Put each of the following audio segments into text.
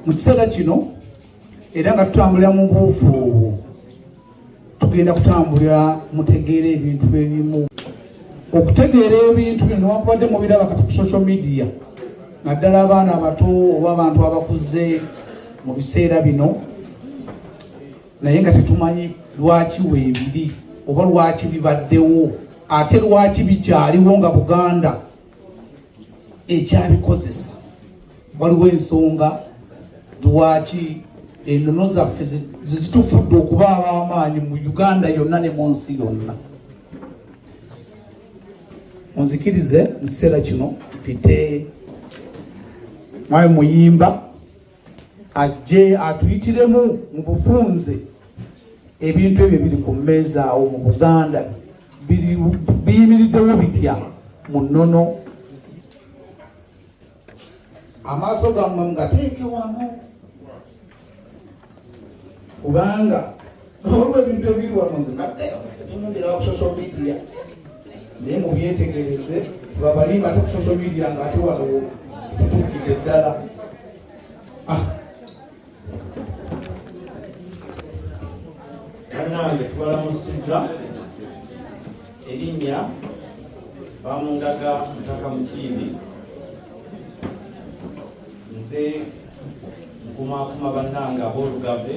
mu kiseera kino era nga tutambulira mu buufu obwo tugenda kutambulira mutegeera ebintu ebimu okutegeera ebintu bino newakubadde mubiraba kati ku social media naddala abaana abato oba abantu abakuze mu biseera bino naye nga tetumanyi lwaki weebiri oba lwaki bibaddewo ate lwaki bikyaliwo nga buganda ekyabikozesa waliwo ensonga lwaki enono zaffe zezitufudde okuba ab'amaanyi mu uganda yonna ne mu nsi yonna munzikirize mu kiseera kino mpite mwabe muyimba ajje atuyitiremu mu bufunze ebintu ebyo biri ku mmeeza awo mu buganda biyimiriddewo bitya mu nnono amaaso gammwe mugateeke wamu kubanga waliwo ebintu ebiri wano nze nadde mumbera ku social media naye mubyetegereze tebabalimba ate ku social media nga ate wano tutukidde ddala ah. banange tubalamusiza erinnya bamundaga mutaka mukiibi nze nkumakuma bannange abolugave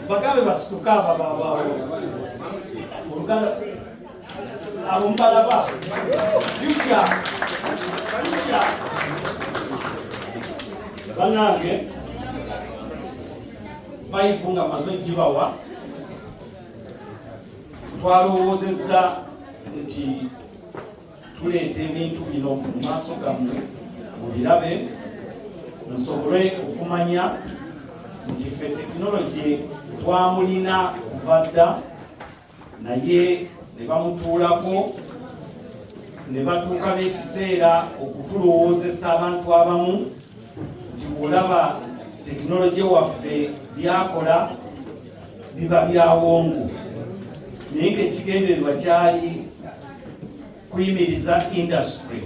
bagambe basituke abababawo oluganda abo mubalaba juja juja banange vayibu nga maze ogibawa twalowoozezza nti tuleeta ebintu bino mu maaso gammwe mubirabe musobole okumanya nti fe tekinologi twamulina kuva dda naye ne bamutuulako ne batuuka n'ekiseera okutulowoozesa abantu abamu nti olaba tekinologi waffe byakola biba byawongo naye ngaekigendererwa kyali kuyimiriza industry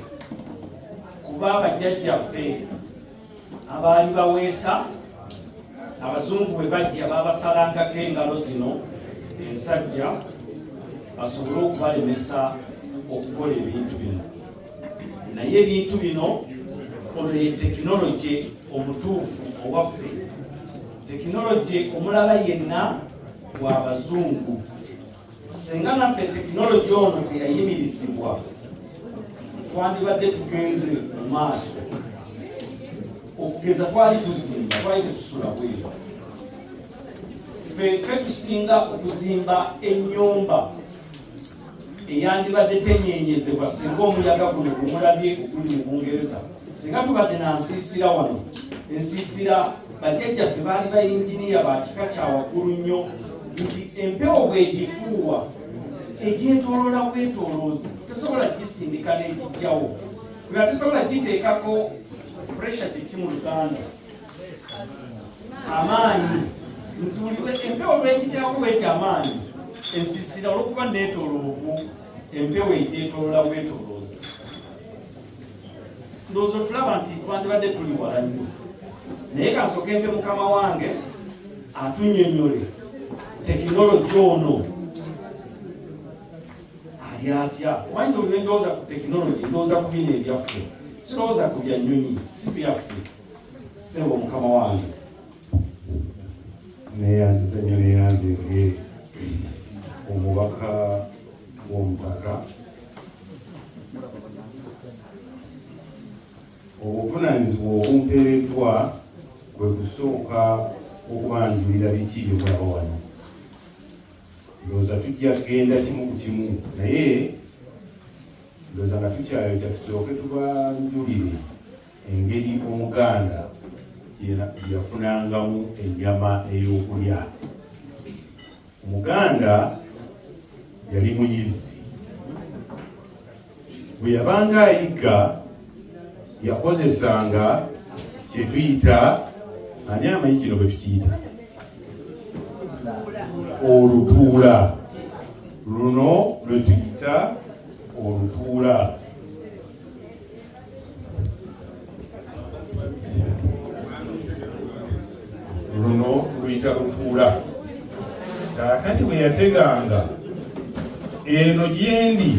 kuba abajjajjaffe abaali baweesa abazungu bwe bajja babasalangako engalo zino ensajja basobole okubalemesa okukola ebintu bino naye ebintu bino ono ye tekinologi omutuufu owaffe tekinologi omulala yenna gwabazungu Singa naffe tekinologi ono teyayimirizibwa twandibadde tugenze mu maaso okugeza twali tuzimba twali tetusula bweru ffe tusinga okuzimba ennyumba eyandibadde tenyenyezebwa singa omuyaga guno gumulabye oguli mu bungereza singa tubadde na nsiisira wano ensiisira bajjajjaffe baali bayinginiya ba kika kya waggulu nnyo nti empewo bwegifuuwa egyetoloola bwetoloozi tesobola gisindika n'egijjawo nga tesobola giteekako pressure kyeki mu luganda amaanyi nti buli empewo lwegiteekako bweti amaanyi ensiisira olwokuba neetoloovu empewo egyetoloola bwetoloozi ndowooza otulaba nti twandibadde tuli wala nnyo naye kansooke mpe mukama wange atunyonyole tekinologi ono ali atya omanyiza oli nendowooza ku tekinologi ndowooza ku bino ebyaffe sirowooza ku bya nyonyi si byaffe sebo mukama wange neyanziza nyo neyanzinge omubaka w'omutaka obuvunaanyizibwa obumpeereddwa kwe kusooka okubanjulira biki bye bulaba wano ndowooza tujja kugenda kimu ku kimu naye ndowooza nga tukyayota tusooke tubanjulire engeri omuganda yafunangamu ennyama ey'okulya Omuganda yali muyizi, bwe yabanga ayigga yakozesanga kye tuyita ani amanyi kino bwe tukiyita olutuula. Luno lwe tuyita olutuula. luno luyita lutuula kaakati bwe yateganga eno gyendi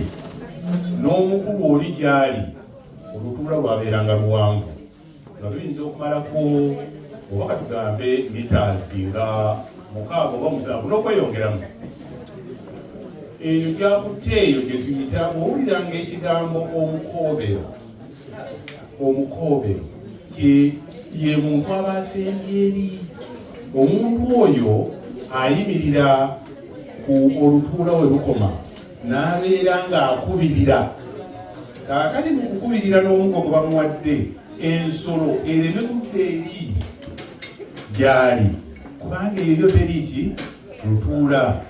n'omukulu oli gyali olutuula lwabeeranga luwanvu nga luyinza okumalako oba katugambe mitaazi nga mukaaga oba musanvu n'okweyongeramu eyo gyakutte eyo gye tuyita owuliranga ekigambo omukoobero omukoobero ye muntu aba asembye eri omuntu oyo ayimirira ku olutuula we lukoma n'abeera ng'akubirira kakati mu kukubirira n'omugo gwe bamuwadde ensolo ereme kudda eri gyali kubanga eryo teri ki lutuula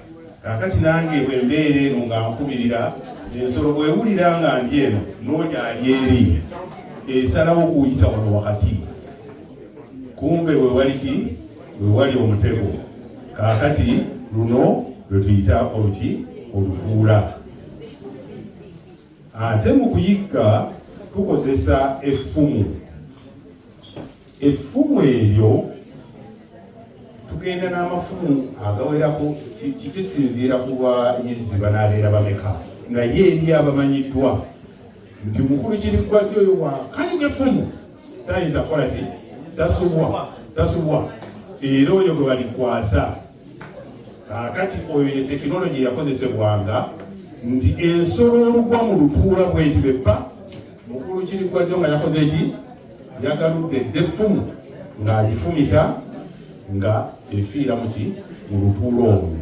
kakati nange bwe mbeera eno nga nkubirira ensolo bwewulira nga ndi eno noonya ali eri esalawo okuyita wano wakati kumbe wewali ki wewali omutego kakati luno lwetuyita oluki olutuula ate mu kuyigga tukozesa effumu effumu eryo tugenda n'amafumu agawerako kikisinziira ku bayizzi banaabeera bameka naye eri abamanyiddwa nti mukulu kiriggwajjo oyo wakanyuga effumu tayinza kukola ki tasubwa tasubwa era oyo gwe balikwasa kakati oyo ye tekinologi yakozesebwanga nti ensolo olugwa mu lutuula bweti beppa Mukulu Kirikwajjo nga yakoze ki? Yagaludde edda effumu ng'agifumita nga efiira mu ki mu lutuula olwo.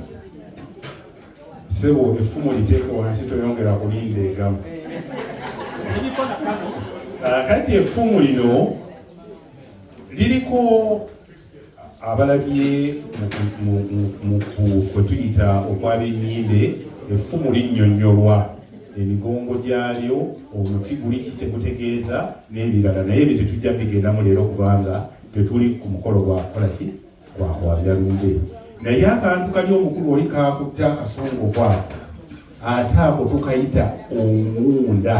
Ssebo effumu liteeke wansi toyongera kulinda egamu. Kati effumu lino liriko abalabye mu kwe tuyita okwabenyimbe effumu linnyonnyolwa emigongo gyalyo omuti guli kikye gutegeeza n'ebirala naye ebyo tetujja bigendamu leero kubanga tetuli ku mukolo gwakukola ki gwakwabya lumbe naye akantu kali omukulu oli kakutta akasongo kwako ate ako tukayita omuwunda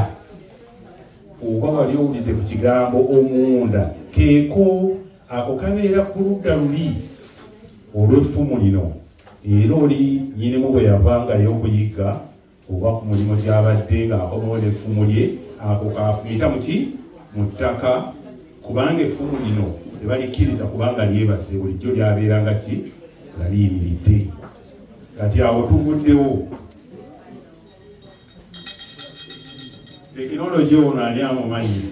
oba wali owulidde ku kigambo omuwunda keeko Ako kabeera ku ludda luli olw'effumu lino, era oli nyinimu bwe yavangayo okuyigga oba ku mulimu gy'abadde ng'akomawo n'effumu lye, ako kaafumita mu ki mu ttaka, kubanga effumu lino tebalikkiriza kubanga lyebase, bulijjo lyabeera nga ki nga liyimiridde. Kati awo tuvuddewo. tekinologi ono ani amumanyi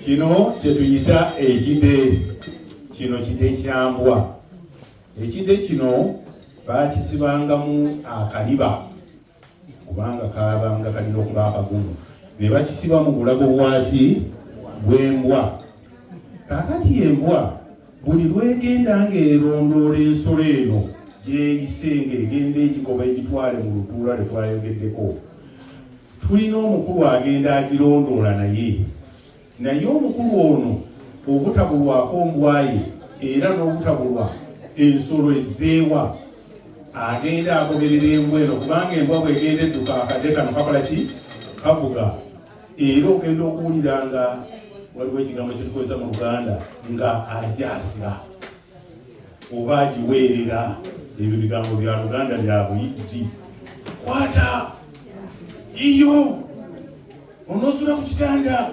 kino kyetuyita ekide kino kide kyambwa ekide kino bakisibangamu akaliba kubanga kabanga kalina okuba akagumu ne bakisiba mu bulago bwaki bwembwa kakati embwa buli lwegenda ng'erondoola ensolo eno gyeyise ng'egenda egigoba egitwale mu lutuula lwe twayogeddeko tulina omukulu agenda agirondoola naye naye omukulu ono obutabulwako mbwaye era n'obutabulwa ensolo ezeewa agenda agoberera embwa eno kubanga embwa bwegenda edduka akadde kano kakola ki kavuga era ogenda okuwulira nga waliwo ekigambo kyetukozesa mu luganda nga ajasira oba agiweerera ebyo bigambo bya luganda lya buyizi kwata iyo onosula ku kitanda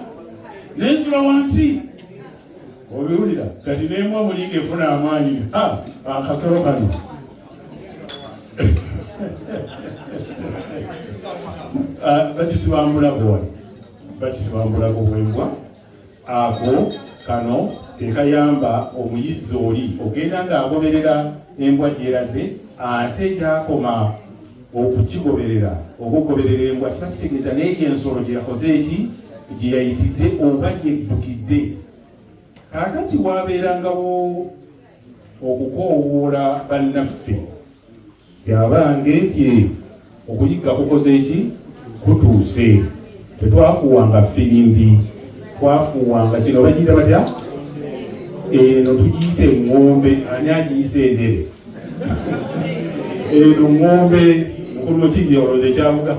nensula wansi obiwulira kati nemwa mulinga efuna amaanyi akasolo kano Ah, bakisibambulago wano bakisibambulago bwembwa ako kano kekayamba omuyizi oli ogenda ng'agoberera embwa gyeraze ate gyakoma okukigoberera oba okugoberera embwa kiba kitegeeza naye ensolo gyeyakoze eki gyeyayitidde oba gyeddukidde kakati wabeerangawo okukoowoola bannaffe kyabange nti okuyigga kukoze ki kutuuse tetwafuwanga firimbi twafuwanga kino bakiyita batya eno tugiyita eŋŋombe ani agiyisa endere eno ŋŋombe mukulu mukinyolozi ekyavuga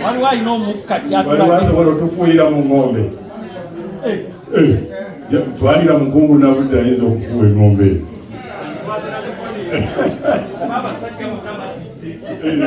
waliwo alina omukka waliwo asobola otufuuyira mu ng'ombe eh. Eh. twalira mukungu nabudde ayinza okufuuwa eng'ombe eyo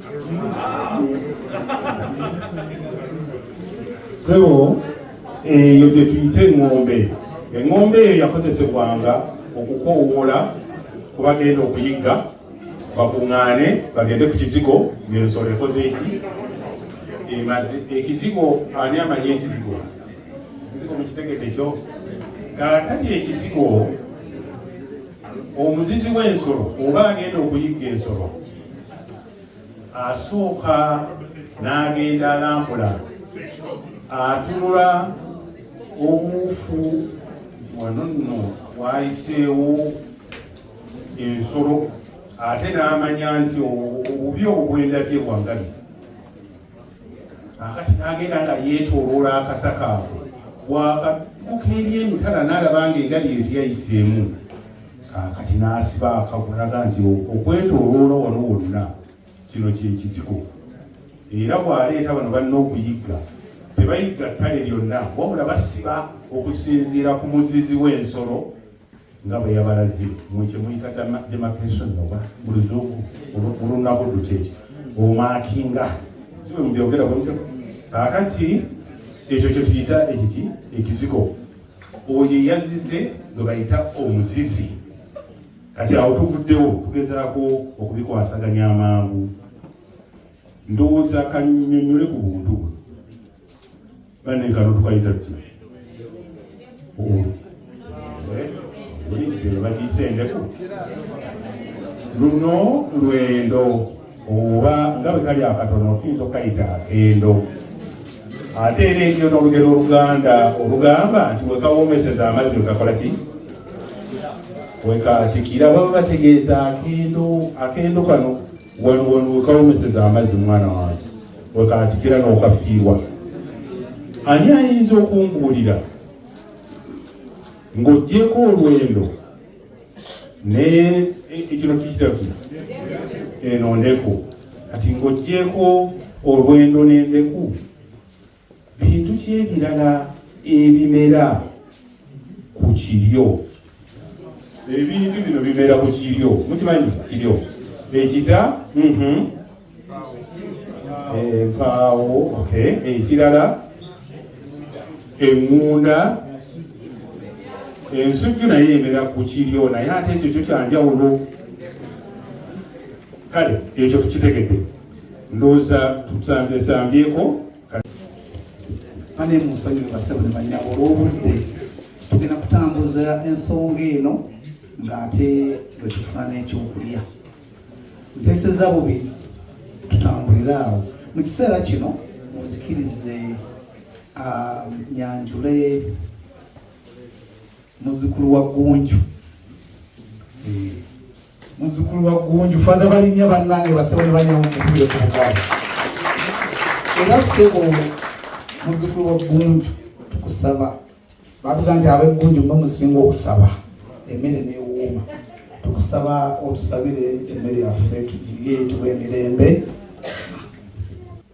sebo eyo gye tuyita eŋŋombe eŋŋombe eyo yakozesebwanga okukoowoola ku bagenda okuyigga bakuŋŋaane bagende ku kizigo ng'ensolo ekoze eki emaze ekizigo ani amanyi ekizigo ekizigo mukitegedde kyo kakati ekizigo omuzizi w'ensolo oba agenda okuyigga ensolo asooka n'agenda alambula atunula obuufu wano nno wayiseewo ensolo ate n'amanya nti obubi obwendabye bwangabi akati n'agenda nga yeetooloola akasa kaabwe bwakadduka eri emitala n'alaba nga engali eyo teyayiseemu kaakati n'asiba akagulaga nti okwetooloola wano wonna kino kyekizigo era bw'aleeta bano balina okuyigga tebayigga ttale lyonna wabula basiba okusinziira ku muzizi w'ensolo nga bwe yabalaze mu kye muyita demarcation oba mu luzungu olunabuddu kyekyo omakinga si bwe mubyogera bwe mutyo kakati ekyo kye tuyita ekiki ekizigo oyo eyazize gwe bayita omuzizi kati awo tuvuddewo tugezaako okubikwasaganya amangu ndowooza kanyonyole ku buntu bwe bane kano tukayita ki olidde bagiyise endeku luno lwendo oba nga bwe kali akatono tuyinza okukayita akendo ate era enyo n'olugero oluganda olugamba nti wekawomeseza amazzi wekakola ki wekatikira baba bategeeza akendo akendo kano wano wano wekawomeseza amazzi mwana wange wekatikira nokafiirwa ani ayinza okumbuulira ng'ogyeko olwendo naye ekino tukitera kino eno ndeku kati ng'ogyeko olwendo n'endeku bintu ki ebirala ebimera ku kiryo ebintu bino bimera ku kiryo mukimanyi kiryo ekita mhm. empaawo ekirala eŋŋunda ensujju naye emera ku kiryo naye ate ekyo kyo kyanjawulo kale ekyo tukitegedde ndoza tutambye sambyeko bane musonyi basebo ne banya olwobudde tugenda kutambuza ensonga eno ng'ate bwe tufuna n'ekyokulya nteeseza bubi tutambulire awo mu kiseera kino munzikirize ah, nyanjule muzukulu wa gunju eh, muzukulu wa gunju fada balinya banange basebo ne banyawo mukubire ku bugabo era sebo muzukulu wa gunju tukusaba bavuga nti abeggunju mwe musinga okusaba emmere newuuma tukusaba otusabire emmere yaffe tugirye tuwa emirembe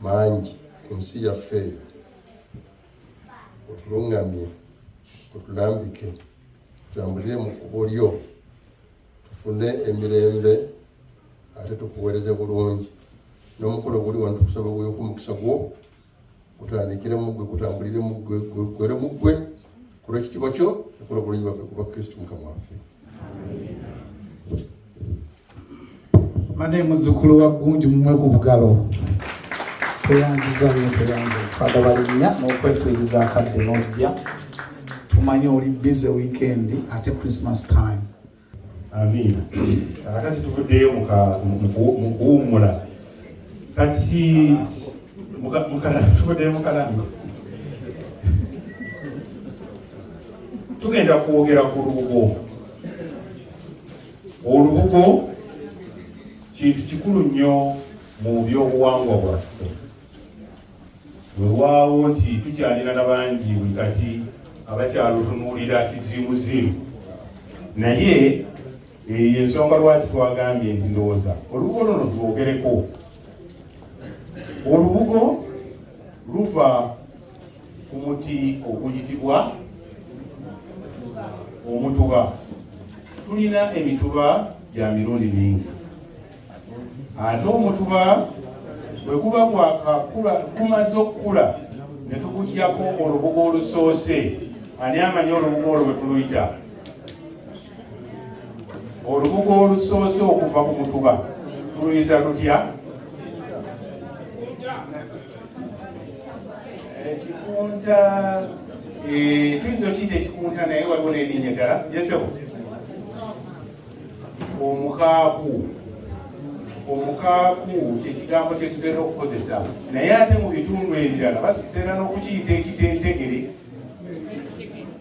mangi ku nsi yaffe eyo otulungamye otulambike tutambulire mu kkubo lyo tufune emirembe ate tukuweereze bulungi n'omukolo guli wano tukusaba gweyoku omukisa gwo gutandikire mu ggwe gutambulire mu ggwe gwere mu ggwe kulwa ekitiibwa kyo ekola obulungi bwaffe kuba kristu mukama waffe mane muzukulu wa gunju mumwe ku bugalo tweyanziza nyo tweyanze fada balinya n'okwefiiriza akadde n'ojja tumanye oli bize weekend ate christmas time amiina kakati tuvuddeyo mu kuwummula kati tuvuddeyo mukalamba tugenda kwogera ku lubugo Olubugo kintu kikulu nnyo mu byobuwangwa bwaffe. Wewaawo nti tukyalina na bangi buli kati abakyalutunuulira kiziimuziimu, naye eyo ensonga lwaki twagambye nti ndowooza olubugo luno lwogereko. Olubugo luva ku muti oguyitibwa omutuba tulina emituba gya mirundi mingi ate omutuba bwe guba gwakakula gumaze okukula ne tugujjako olubugo olusoose ani amanyi olubugo olwo bwe tuluyita olubugo olusoose okuva ku mutuba tuluyita lutya ekikunta eh, tuyinza okiyita ekikunta naye waliwo n'erinnya ddala yesebo omukaaku omukaaku kyekigambo kyetutera okukozesa naye ate mu bitundu ebirala basitera n'okukiyita ekitentegere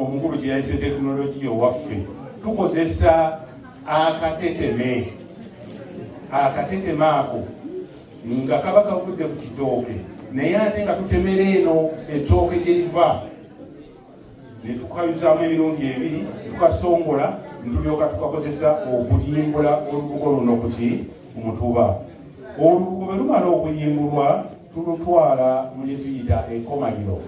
omukulu kye yayise tekinologiya owaffe tukozesa akateteme akateteme ako nga kaba kavudde ku kitooke naye ate nga tutemera eno ettooke gye liva ne tukayuzaamu emirundi ebiri tukasongola ntulyoka tukakozesa okuyimbula olubugo luno kuki mutuba olubugo bwe lumala okuyimbulwa tulutwala mu lye tuyita enkomaliro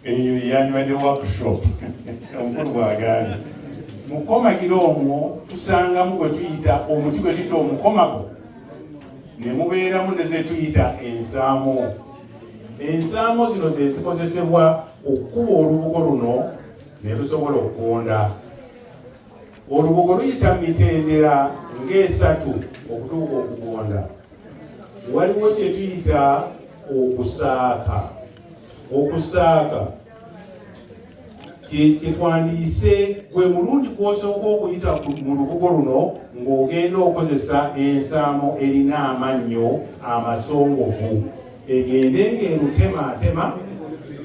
eyo yandibadde workshop omukulu bwagambye mu kukomagiro omwo tusangamu gwe tuyita omuti gwe tuyita omukomago ne mubeeramu ne ze tuyita ensaamo ensaamo zino ze zikozesebwa okukuba olubugo luno ne lusobola okugonda Olubugo luyita mu mitendera ng'esatu okutuuka okugonda. Waliwo kye tuyita okusaaka. Okusaaka kyetwandiise gwe mulundi kwosooka okuyita mu lubugo luno ng'ogenda okozesa ensaamo erina amannyo amasongovu egende ng'erutemaatema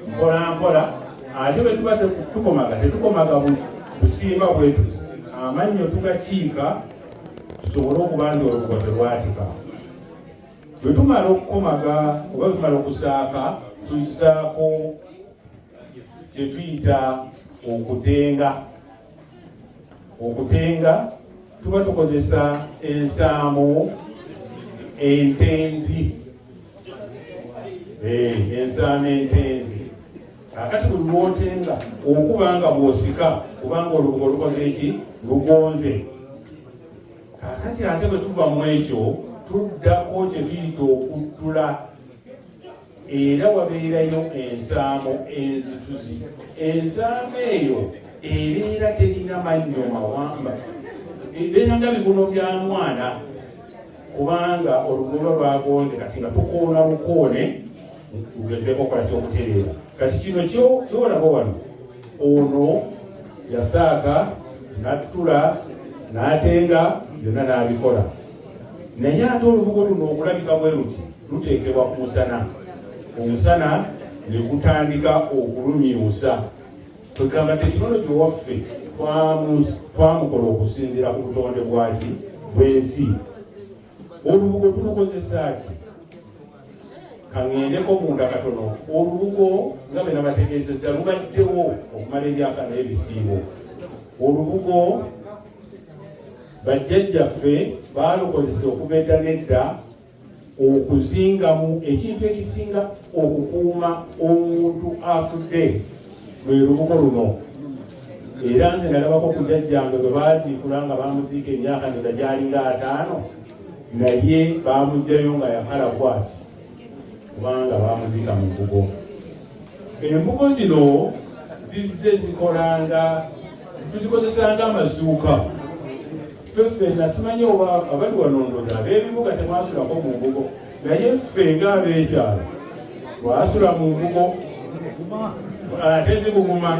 mpolampola ate bwe tuba tukomaga tetukomaga busimba bwe tuti amannyo tugakiika tusobole okuba nti olubugo terwatika bwe tumala okukomaga oba bwe tumala okusaaka tuzaako kye tuyita okutenga okutenga tuba tukozesa ensaamu entenzi eh, ensaamu entenzi akati buli lwotenga okuba nga bwosika kubanga olubuga olukoze eki lugonze kakati ate bwe tuva mu ekyo tuddako kyetuyita okuttula era wabeerayo ensaamo enzituzi ensaamo eyo ebeera terina mannyo mawamba ebeera nga bibuno bya mwana kubanga olugoba lwagonze kati nga tukoona bukoone tugezeko okola kyokutereera kati kino kyolaba wano ono yasaaka nattula n'atenga byonna n'abikola naye ate olubugo luno okulabika bwe luti luteekebwa ku musana omusana ne gutandika okulumyusa kwegamba tekinologi owaffe twamukola okusinziira ku butonde bwaki bwensi olubugo tulukozesa ki kaŋendeko munda katono olubugo nga bena bategeezeza lubaddewo okumala emyaka naye bisiibo olubugo Bajjajjaffe baalukozesa okuva edda n'edda okuzingamu ekintu ekisinga okukuuma omuntu afudde lwe lubugo luno era nze nalabako ku jajjange bwe baaziikula nga baamuziika emyaka neza gyalinga ataano naye baamuggyayo nga yakala kwati kubanga baamuziika mu mbugo. Embugo zino zizze zikolanga tuzikozesanga amazuuka ffe ffenna simanyi oba abali wanondoza ab'ebibuga temwasulako mu mbugo naye ffe nga ab'ekyalo twasula mu mbugo ate zibuguma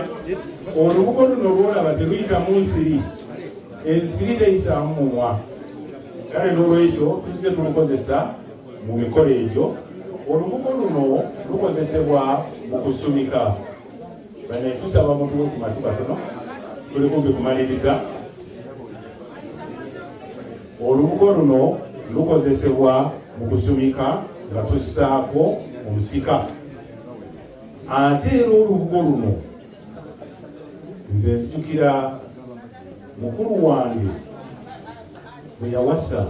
olubugo luno lwolaba teruyitamu nsiri ensiri teyisaamu mumwa kale n'olwekyo tuzze tulukozesa Mu mikolo egyo olubugo luno lukozesebwa mu kusumika. Bana tusaba mutuwe ku matu katono, tuli kumpi kumaliriza. Olubugo luno lukozesebwa mu kusumika nga tussaako omusika ate era olubugo luno nze nzijukira mukulu wange bwe yawasa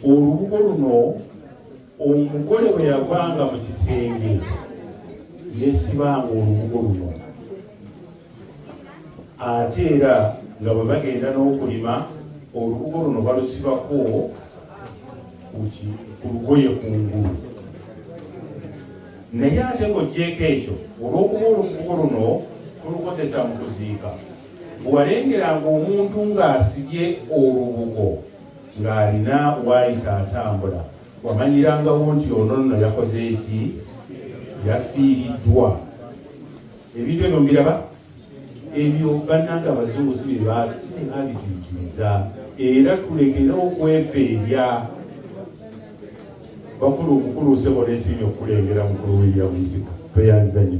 olubugo luno omugole bwe yavanga mu kisenge yesibanga olubugo luno ate era nga bwe bagenda n'okulima olubugo luno balusibako ku lugoye ku ngulu naye ate ng'ogyeko ekyo olw'okuba olubugo luno tulukozesa mu kuziika walengeranga omuntu ng'asibye olubugo ng'alina waayita atambula wamanyirangawo nti ono nno yakoze eki yafiiriddwa ebintu ebyo mbiraba ebyo bannanga abazungu si byebaabituikiriza era tulekere okwefeebya bakulu omukulu usebo nesiimi okukulengera mukulu william isipa tweyanzizanyo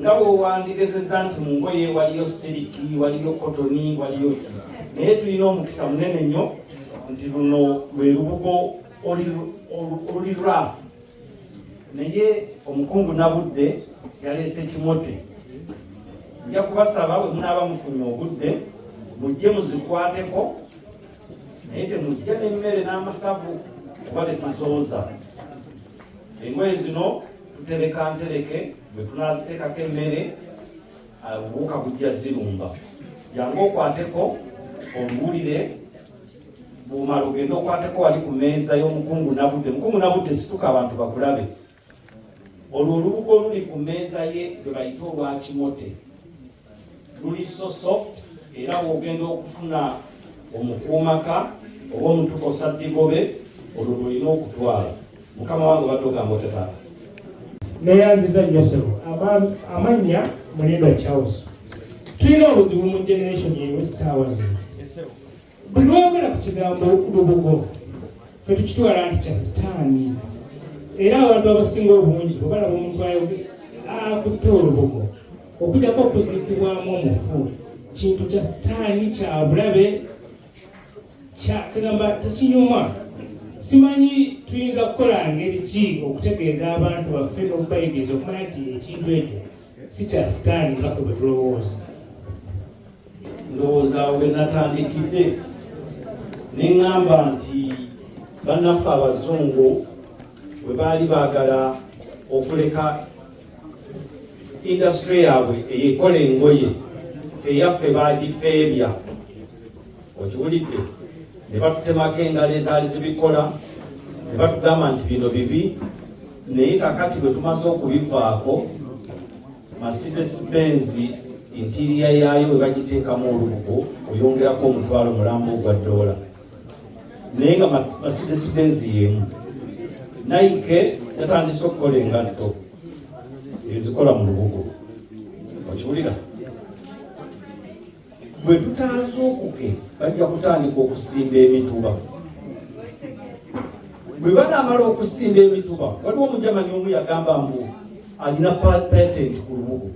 nga bwewandigezeza nti mu ngoye waliyo siriki waliyo kotoni waliyo ki naye tulina omukisa munene nnyo nti luno lwe lubugo oluli rafu naye omukungu nabudde yaleese kimote nja kubasaba bwe munaaba mufunye obudde mujje muzikwateko naye temujja n'emmere n'amasavu kuba tetuzooza engoye zino tutereka ntereke bwe tunaziteekako emmere obuwuka uh, bujja zirumba jangu okwateko obuwulire bumala ogenda okwateko wali ku meeza y'omukungu nabudde mukungu nabudde situka abantu bakulabe olwo olubugo oluli ku meeza ye lwe bayita olwakimote luli so soft era bwogenda okufuna omukuumaka oba omutuka osaddigobe olwo lulina okutwala mukama wange obadde ogamba otya taata neyanziza nnyo sebo amannya mulindo charles tulina obuzibu mu generation yewe saawa zino Buli lwogera ku kigambo lubugo fe tukitwala nti kya sitaani, era abantu abasinga obungi bwe balaba omuntu akutte olubugo okujjako okuziikibwamu omufu kintu kya sitaani kya bulabe kyakagamba tekinyuma simanyi tuyinza kukola ngeri ki okutegeeza abantu baffe n'okubayigiriza okumanya nti ekintu ekyo si kya sitaani nga ffe bwe tulowooza ndowooza we natandikidde ne ŋŋamba nti bannaffe abazungu bwe baali baagala okuleka indasitule yaabwe eyekola engoye feyaffe baagifeebya okiwulidde ne batutemako engalo ezaali zibikola ne batugamba nti bino bibi naye kakati bwe tumaze okubivaako Mercedes Benz entiriya yaayo bwe bagiteekamu olubugo oyongerako omutwalo mulamba ogwa ddoola naye nga Mercedes Benz y'emu. Nike yatandise okukola engatto ezikola mu lubugo okiwulira bwe tutazuukuke bajja kutandika okusimba emituba bwe banaamala okusimba emituba waliwo omujamani omu yagamba mbu alina patent ku lubugo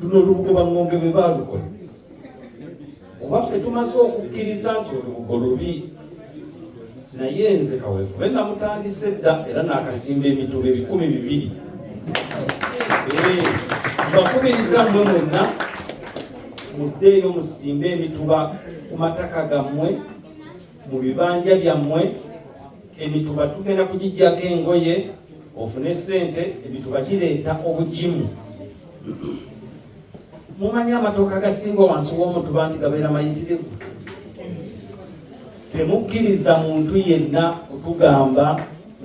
luno olubugo baŋŋonge bwe baalukola kuba ffe tumaze okukkiriza nti olubugo lubi naye nze kaweefube namutandise dda era nakasimba emituba ebikumi bibiri mbakubiriza mwe mwenna muddeeyo musimbe emituba ku mataka gammwe mu bibanja byammwe emituba tugenda kugijjako engoye ofune sente emituba gireeta obugimu mumanyi amatooka agasinga wansi w'omutuba nti gabeera mayitirivu temukkiriza muntu yenna kutugamba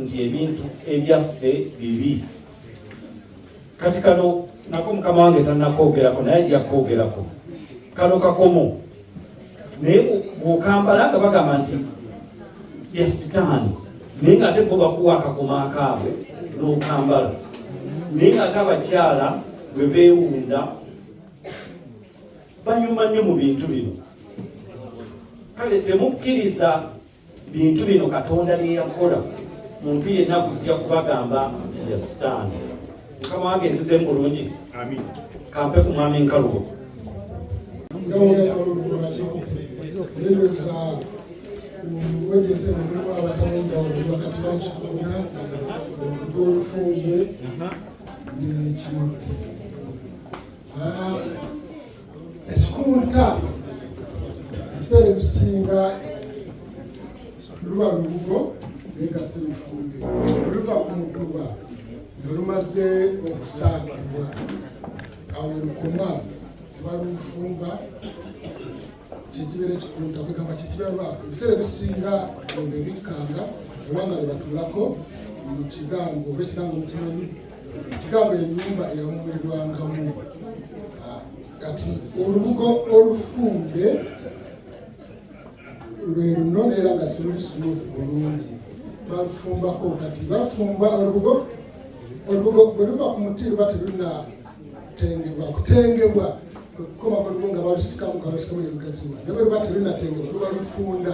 nti ebintu ebyaffe bibi kati kano nako mukama wange tanakoogerako naye ajja koogerako kano kakomo naye bwokambala nga bagamba nti yasitaani naye nga ate bo bakuwa akakoma akaabwe n'okambala naye nga ate abakyala bwe beewunda banyuma nnyo mu bintu bino kale temukkiriza bintu bino katonda byeyakola muntu yenna kujja kubagamba nti ya sitaani mukama wange nzize mulungi kampe ku mwami nkalubo wegeze mulimu abatali enjawulo eri wakati wa kikunda ogw'olufumbe n'ekimutti ekikunta ebiseera ebisinga luba lubugo negasa ebifumbi oluva ku mutuba nga lumaze okusaakibwa awo lukoma tebalufumba kyekibeera ekikunta kwegamba kyekibeera lwafu ebiseera ebisinga nga ebikkanga oba nga bwebatulako mu kigango oba ekigango mukimanyi Ekigambo ennyumba eyawummulirwangamu ah, kati olubugo olufumbe lwe luno neera nga siruli smooth bulungi balufumbako kati bafumba olubugo olubugo bwe luva ku muti luba terunatengebwa kutengebwa okukoma ku lubugo nga balusikamu nga balusikamu ne lugaziwa naye bwe luba terunatengebwa luba lufunda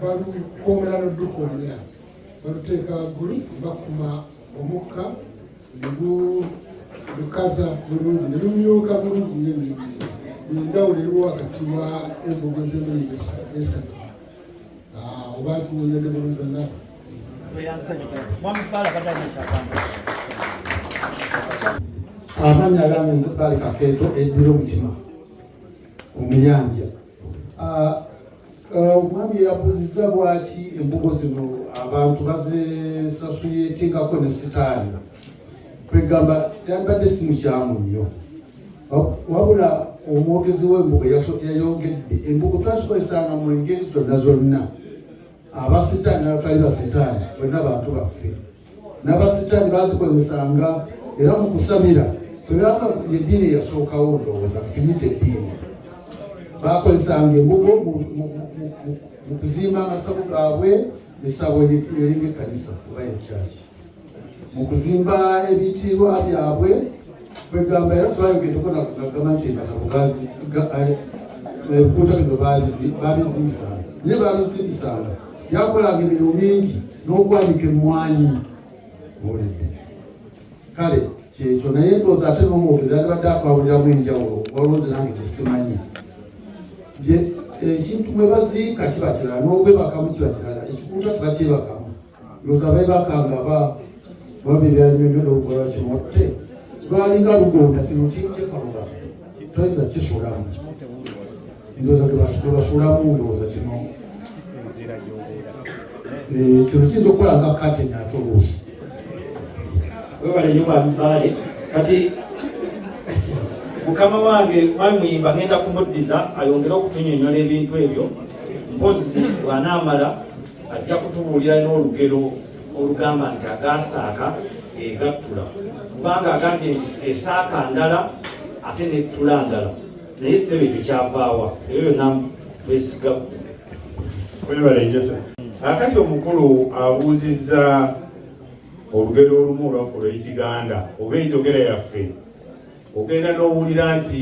balukomera nodukomera baluteeka waggulu bakuma omukka negukaza bulungi nelumyuka bulungi nyo endawulo eriwo wakati wa embuga ez'emirundi esatu ah, oba tunyonyode bulungi banabo amanya agambe nze bali kakeeto eddira omutima omuyanja Ah, ah, omwami yabuuzizza lwaki embugo zino abantu bazesasuyetingako ne sitaani kwegamba yambadde si mukyamu nnyo wabula omwogezi w'embugo yayongedde embugo twazikozesanga mu ngeri zonna zonna abasitaani nabatali basitaani bonna bantu baffe n'abasitaani baazikozesanga era mu kusabira tebanga eddiini eyasookawo ndowooza kutuyita eddiini baakozesanga embugo mu kuzimba amasabo gaabwe esabo erimu ekanisa oba ekyaki mu kuzimba ebitiibwa byabwe kwegamba era twayogedeko nagamba nti emasabo ebikuuta eh, bino babizimbisanga naye babizimbisanga yakolanga emirimu mingi n'okwanika emmwanyi muwulidde kale kyekyo naye ndoozi ate n'omwogezi alibadde atwawuliramu enjawulo waloozi nange kyesimanyi ekintu bwe baziika kiba kirala n'obwebakamu kiba kirala ekikuuta tebakyebakamu ndoozi abebakanga ba babiryanyonyola olugola kimotte lwalinga lugonda kino kikaluba toyinza kisulamu ndoza gebasuulamu ndowooza kino eh, kino kiyinza okukola nga kate nate oluusi webale nyo babibaale kati mukama wange mwami muyimba ngenda kumuddiza ayongere okutunyonyola ebintu ebyo mpozi bwanaamala ajja kutubuulira n'olugero olugamba nti agaasaaka egattula kubanga agambye nti esaaka ndala ate nettula ndala naye sebe tukyavaawa eyo yonna twesiga kwebalenjesa akati omukulu abuuzizza olugero olumu olwaffe olwekiganda oba enjogera yaffe ogenda n'owulira nti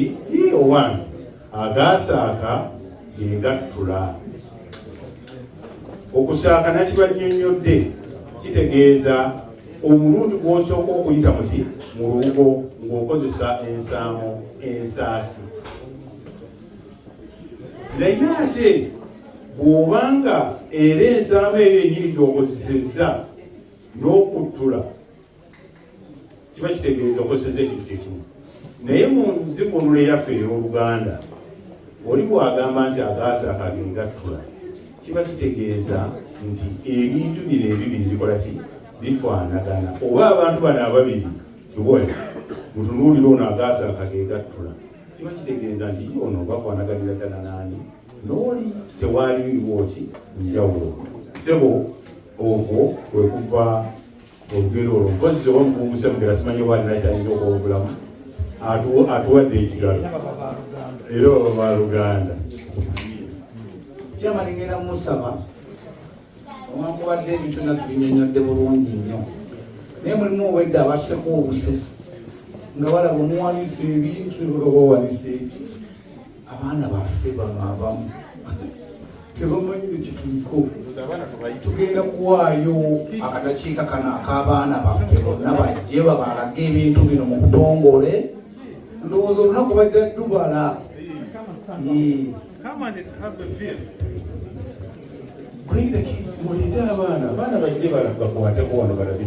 owange agaasaaka gegattula okusaaka nakibannyonnyodde kitegeeza omulundi gw'osooka okuyita muti mu lubugo ng'okozesa ensaamo ensaasi naye ate bw'obanga era ensaamo eyo enyini gy'okozesezza n'okuttula kiba kitegeeza okozeseza ekintu kyekimu naye mu nzikunula eyaffe ey'oluganda oli bw'agamba nti agaasa akagengattula kiba kitegeeza nti ebintu bino ebibiri bikola ki bifaanagana oba abantu bano ababiri kiwole mutunuulira ono agaasaka gegattula kiba kitegeeza nti ono bafaanaganira ddala naani nooli tewaaliwo ki njawulo sebo okwo kwekuva olugero olwo mpozi oba mukunguse mugera simanyi oba alina kyayinza okwobulamu atuwadde ekigalo era oba baluganda kyamani ngenda musaba owankubadde ebintu na tubinyonyodde bulungi nnyo naye mulimu obwedde abaseko obusesi nga balaba omuwanisa ebintu oba owanisa eki abaana baffe bano abamu tebamanyi nekituliko tugenda kuwaayo akadakiika kano ak'abaana baffe bonna bajje babalage ebintu bino mu butongole ndowooza olunaku bajja dubala Bring the kids, mulete abaana, abaana bajje balaga kuwateko wano balabe.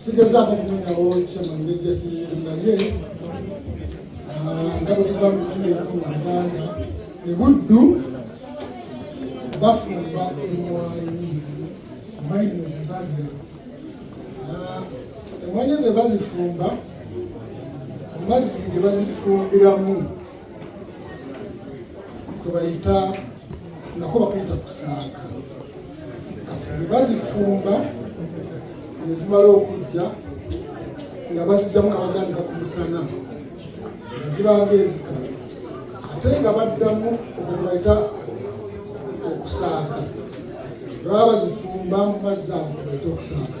sigezaako kumenyawo kyemanejjatuliiru naye nga bwe tuva mutuleku mu uganda ebuddu bafumba emwanyi emwanyi zino zebalya emwanyi ze bazifumba amazzi ge bazifumbiramu kwebayita nako bakayita kusaaka kati bebazifumba nezimala okujja nga bazijjamu nga bazandika ku musana nga zibanga ezikala ate nga baddamu okubayita okusaaka baba bazifumba mu mazzi ago kwebayita okusaaka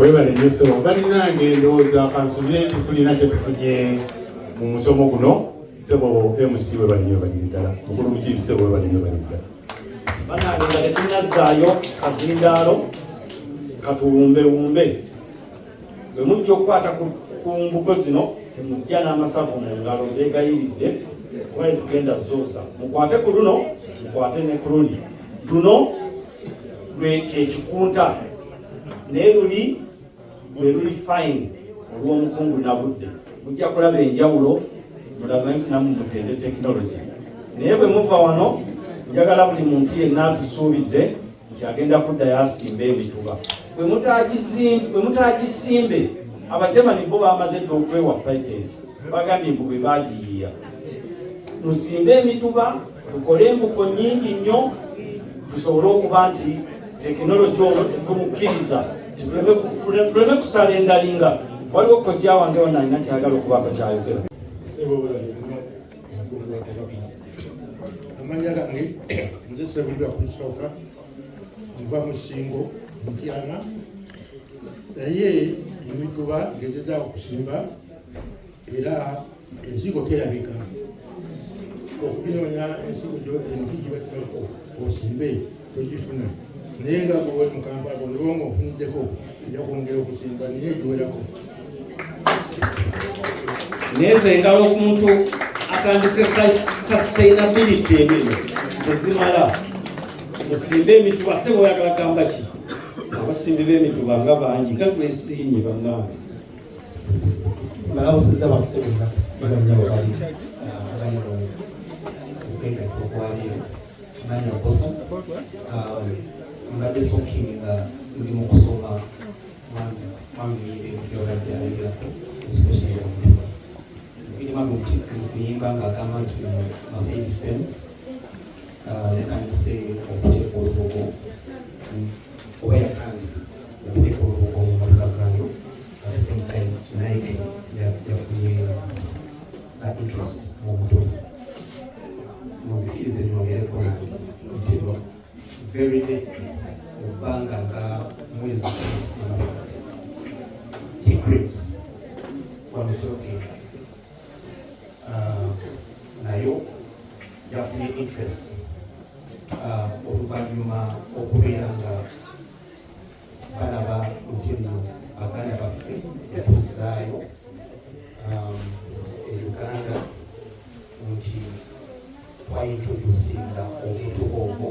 webale nyo sebo balinange ndowooza kansubire nti tulina kyetufunye mu musomo guno sebo mc webale nyo baliri ddala mukulu mukiibi sebo webale nyo baliri ddala banange nga tetunazzaayo kazindaalo katuwumbewumbe bwe mujja okukwata ku mbugo zino temujja n'amasavu mu ngalo beegayiridde kuba yetugenda zooza mukwate ku luno mukwate ne ku luli luno kyekikunta naye luli lwe luli fine olw'omukungu nabudde mujja kulaba enjawulo mulabe namu mutende tekinologi naye bwe muva wano njagala buli muntu yenna atusuubize nti agenda kuddayo asimba emituba bwe mutaagisimbe abajamani bo bamaze dda okwewa patent bagambye mbu bwe bagiyiya musimbe emituba tukole embugo nyingi nnyo tusobole okuba nti tekinologi ono tetumukkiriza tuleme kusala endalinga waliwo kojja wange ona alina kyagala okubaako kyayogera amanya gange nze sebulira kusoka nva musingo mutyana naye emituba ngezezaako kusimba era ensigo terabika okunoonya ensigo gyo emiti gibakibaku osimbe togifuna naye nga gobali mu kampala olubanga ofuniddeko ojja kwongera okusimba naye egiwerako naye zengala omuntu atandise sustainability emirimu tezimala musimbe emituba sebo oyagala gamba ki abasimbi b'emituba nga bangi gatwesiimye bannange balawusiza bassebo nga baganya bwebali abali okwegatta okwaliiro manya mposa mbadde soking nga ndi mu kusoma mwamiyebyolabyayirako especially omutuba birimu amutikka okuyimba ng'agamba nti mercedes benz yatandise okuteeka olugogo mm. oba yatandika okuteeka olubugo mu mmotoka zaayo at the same time nike yafunye uh, interest mu muto munzikirize nongereko nange nti very late mu bbanga nga mwezi uh, nayo yafunye interest uh, oluvannyuma okubeera nga balaba nti nno baganda baffe yatuzaayo um, e uganda nti twaintroducinga omutuba ogwo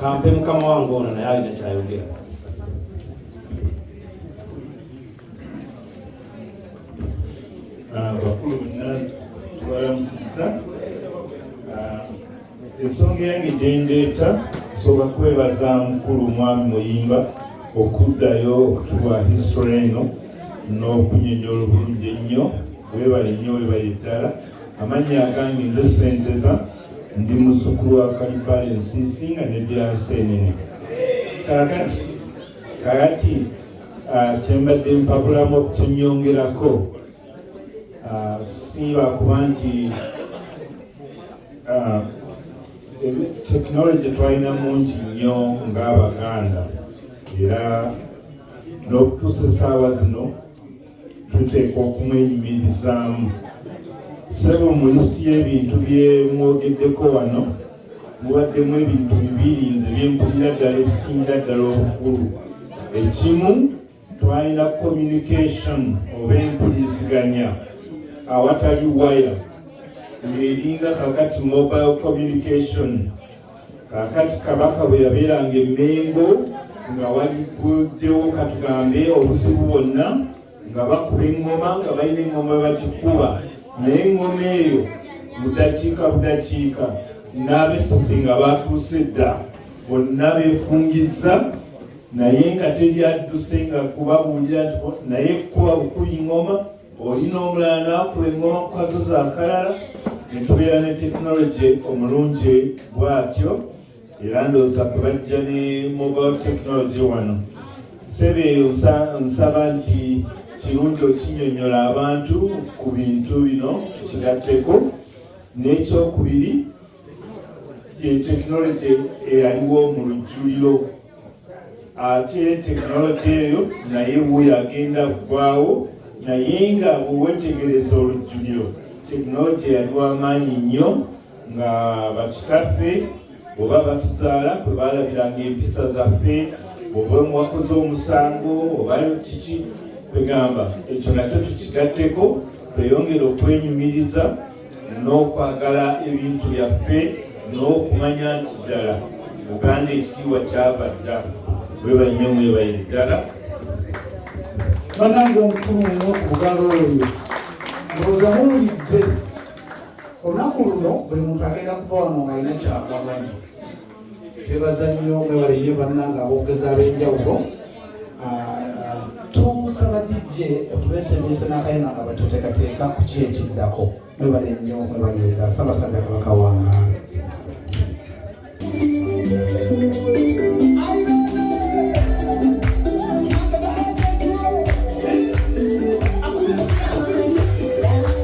kampe mukama wange ono naye alina kyayogera abakulu ah, bonna tubalamusiza ah, ensonga yange gyendeeta nsobola kwebaza mukulu mwami muyimba okuddayo okutuwa history eno n'okunyonyola obulungi ennyo webale nnyo webale ddala amannya agange nze senteza Ndi muzzukulu wa Kalibbala ensiisi nga neddira Nseenene. Kaakati kaakati ah, kyembadde mpabulamu okukinyongerako ah, siiba kuba nti ah, tekinologi twalina mungi nnyo ng'Abaganda era n'okutuusa essaawa zino tuteekwa okumwenyumirizaamu sebo mu lisiti y'ebintu bye mwogeddeko wano mubaddemu ebintu bibiri nze byempulira ddala ebisingira ddala obukulu ekimu twalina communication oba empuliziganya awatali waya ng'eringa kakati mobile communication kakati kabaka bwe yabeeranga emmengo nga walikuddewo katugambe obuzibu bwonna nga bakuba eŋŋoma nga balina eŋŋoma bagikuba naye eŋŋoma eyo budakiika budakiika n'abesose nga batuuse dda bonna beefungizza naye nga teri adduse nga kubabuulira nti naye kuba bukuli ŋŋoma Olina omulala n'akula engoma ku kasozi akalala ne tubeera ne tekinologi omulungi bw'atyo era ndowooza kwe bajja ne mobile tekinologi wano. Ssebe nsaba nti kirungi okinyonyola abantu ku bintu bino tukigatteko n'ekyokubiri ye tekinologye eyaliwo mu lujjuliro ate tekinologye eyo naye wuyo agenda kugwawo naye nga bwewetegereza olujjuliro tekinologye yali wamaanyi nnyo nga bakitaffe oba batuzaala kwe baalabiranga empisa zaffe oba mwakoze omusango oba kiki kwegamba ekyo nakyo tukigatteko tweyongere okwenyumiriza n'okwagala ebintu byaffe n'okumanya nti ddala uganda ekitiibwa kyava dda webanyo mwebaye ddala banange omukulu muno kubugalo oyo ndowooza muwulidde olunaku luno buli muntu agenda kuva wano ng'alina kyakwaganya twebaza nnyo mwebale nnyo bannanga aboogezi ab'enjawulo ah, tusaba dj otubesemese n'akayima nga batuteekateeka ku ki ekiddako mwebale nnyo mwebale ddala ssabasajja kabaka wanga